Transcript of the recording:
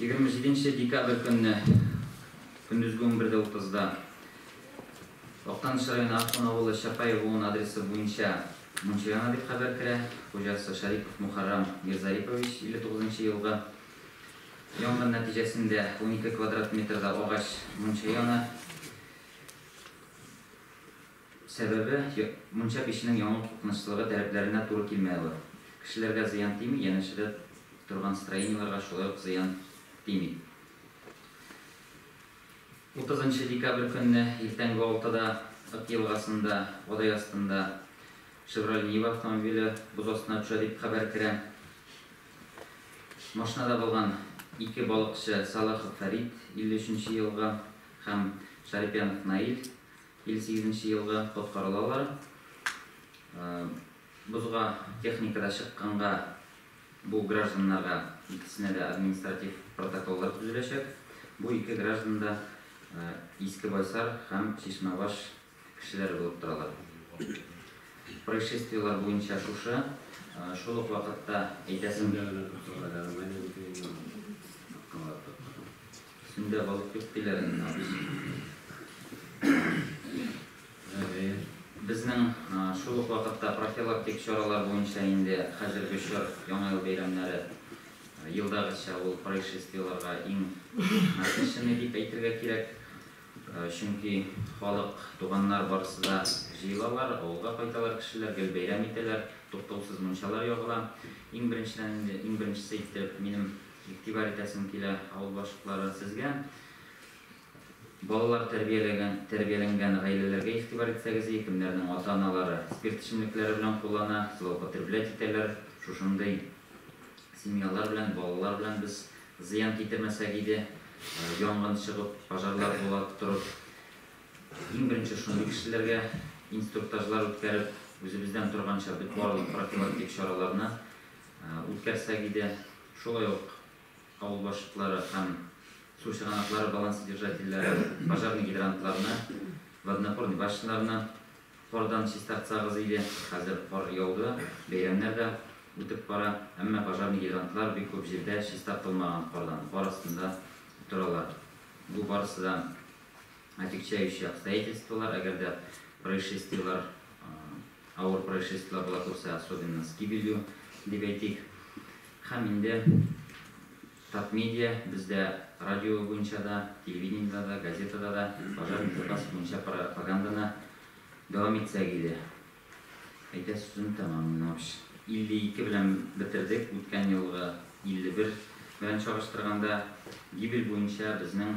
Егерме җиденче декабрь көнне көндезге унбер дә утызда Актаныш районы Ахун авылы Чапай Гуун адресы буенча мунча яна дип хәбәр керә. Хуҗасы Шарипов Мухаррам Мирзарипович, 59 нчы елгы. Янгын нәтиҗәсендә унике квадрат метрда агач мунча яна. Сәбәбе, мунча печенең яну куркынычлылыгы таләпләренә туры килми ала. Кешеләргә зыян тими, янәшәдә торган строениеләргә шулай ук зыян тими. Утызынчы декабрь көнне иртәнге алтыда Ык елгасында Адай астында Шевроле Нива автомобиле боз астына төшә, дип хәбәр керә. Машинада булган ике балыкчы Салахов Фәрит, 53 нче елгы, һәм Шарипьянов Наил, Илле сигезенче елгы коткарылалар. Бозга техника да чыкканга бу гражданнарга икесенә дә административ протоколлар төзеләчәк. Бу ике граждан да Иске Байсар һәм Чишмәбаш кешеләре булып торалар. Происшествиеләр буенча шушы. Шул ук вакытта әйтәсем. Сендә балык юк диләр инде, абыйсы. Безнең шул ук вакытта профилактик чаралар буенча инде хәзерге чор Яңа ел бәйрәмнәре елдагыча ул происшествиеларга иң насыщенный дип әйтергә кирәк. Чөнки халык, туганнар барысы да җыелалар, авылга кайталар кешеләр, гел бәйрәм итәләр, туктаусыз мунчалар ягыла. Иң беренчедән инде, иң беренчесе итеп минем Игътибар итәсем килә, авыл башлыклары, сезгә балалар тәрбияләгән, тәрбияләнгән гаиләләргә игътибар итсәгез и, кемнәрнең ата-аналары спирт эчемлекләре белән куллана, злоупотреблять итәләр, шушындый семьялар белән, балалар белән без зыян китермәсәк иде, янгын чыгып, пожарлар була торып, иң беренче шундый кешеләргә инструктажлар үткәреп, үзебездән торганча бөт барлык профилактик чараларны Үткәрсәк иде. Шулай ук авыл башлыклары һәм су чыганаклары балансодержательләре пожарный гидрантларны, водонапорный башняларны кардан чистартсагыз иде. Хәзер кар яуды, бәйрәмнәр дә үтеп бара, әмма пожарный гидрантлар бик күп җирдә чистартылмаган кардан, кар астында торалар. Бу барысы да Отягчающие обстоятельстволар, әгәр дә происшествиелар, авыр происшествиелар була күрсә, особенно с гибелью, дип әйтик. Һәм инде Татмедиа, бездә радио буенча да, телевидениедә дә, газетада да пожар безопасности буенча пропаганданы дәвам итсәк иде. Әйтә сүзен тәмам Минович. 52 белән бетердек, үткән елгы 51 белән чагыштырганда, гибель буенча безнең